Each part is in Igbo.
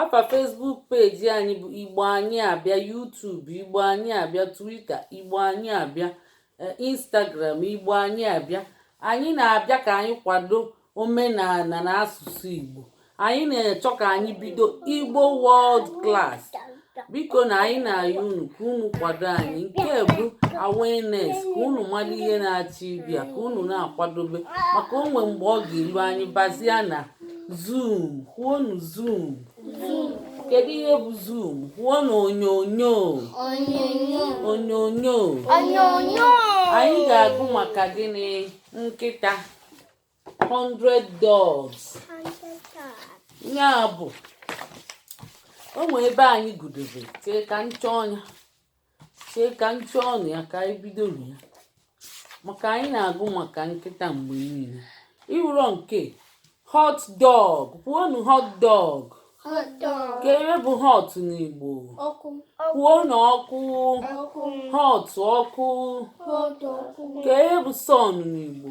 afa facebook peji anyị bụ igbo anyị abịa youtube igbo anyị abịa twitter igbo anyị abịa e, instagram igbo anyị abịa anyị na-abịa ka anyị kwado omenala na asụsụ igbo anyị na-achọ ka anyị bido igbo world class biko na anyị na-ayọ unu ka unu kwado anyị nke bụ awareness ka unu mara ihe na-achọ ịbịa ka unu na-akwadobe maka o nwe mgbe ọ ga-elu anyị bazia na zoom kwuonu zoom kedu ihe bụ zoom kwuonu onyonyo onyonyo anyị ga-agụ maka gịnị nkịta 100 dogs ya bụ o nwee ebe anyị gụdobe chee ka m chọọ nya chee ka m chọọnụ ya ka anyị bidonụ ya maka anyị na-agụ maka nkịta mgbe niile ị wụrọ nke hot dog kwuonu hot dog kee ihe bụ hot n'igbo kwuonu ọkụ hot ọkụ kee ihe bụ sun n'igbo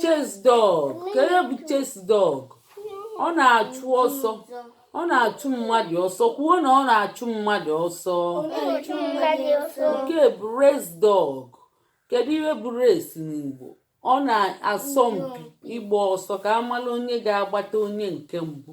chase dog kee ihe bụ chase dog ọ na-achụ ọsọ ọ na-achụ mmadụ ọsọ kwuo na ọ na-achụ mmadụ ọsọ nke bụ race dog kedu ihe bụ race n'Igbo ọ na-asọ mpi ịgba ọsọ ka a mala onye ga-agbata onye nke mbụ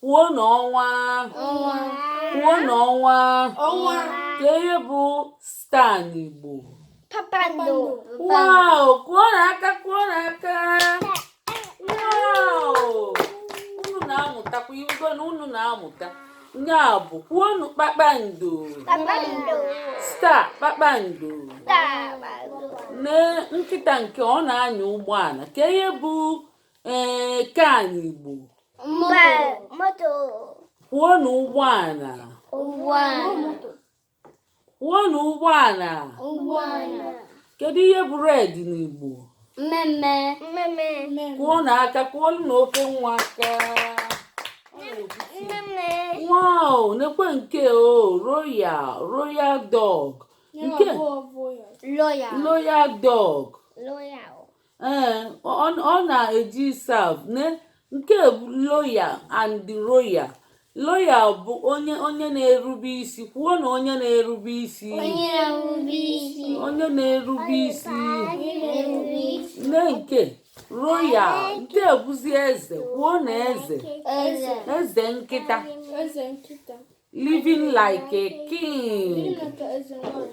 kwuonu ọnwa kwuonu ọnwa kee ihe bụ star n'Igbo wow kụọnụ aka kụọnụ aka wow unu na-amụtakwa ị wụgo na unu na-amụta ya bụ kwuonu kpakpando star kpakpando na nkịta nke ọ na-anya ụgbọala kee ihe bụ ee car n'igbo moto kwuonụ ụgbọala ụgbọala kwuonụ ụgbọala ụgbọala kedu ihe bụ red n'igbo mmee mmee mmee mmee kụọnụ aka kụọlụnụ oke nwa aka mmee mmee wow nekwe nke o royal royal dog nke loyal loyal dog loyal ee ọ na-eji serve nee nke loyal and royal loyal bụ onye onye na-erube isi kwuonu onye na-erube isi onye na-erube isi nee nke royal nke bụzi eze kwuonu eze eze nkịta living like a king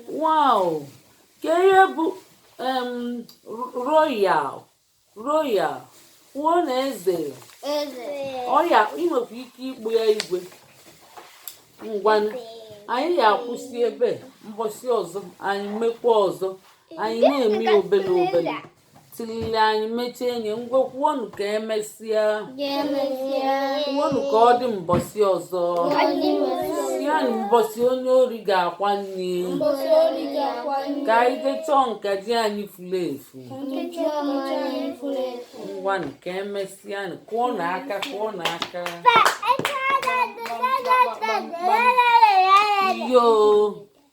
wow kee ihe bụ royal royal kwuo na eze ọ ya i nwekwa ike ịkpọ ya igwe ngwanụ anyị ya-akwụsị ebe mbọsị ọzọ anyị mekwa ọzọ anyị na-eme obele obele tilili anyị mechie enyi ngwa kwuonụ ka emesịa kwuonụ ka ọ dị mbọsị ọzọ sị ya na mbọsị onye ori ga-akwa nne ka anyị jee chọọ nkaji anyị furu efu ngwanụ ka emesịa kụọnụ aka kụọnụ aka yo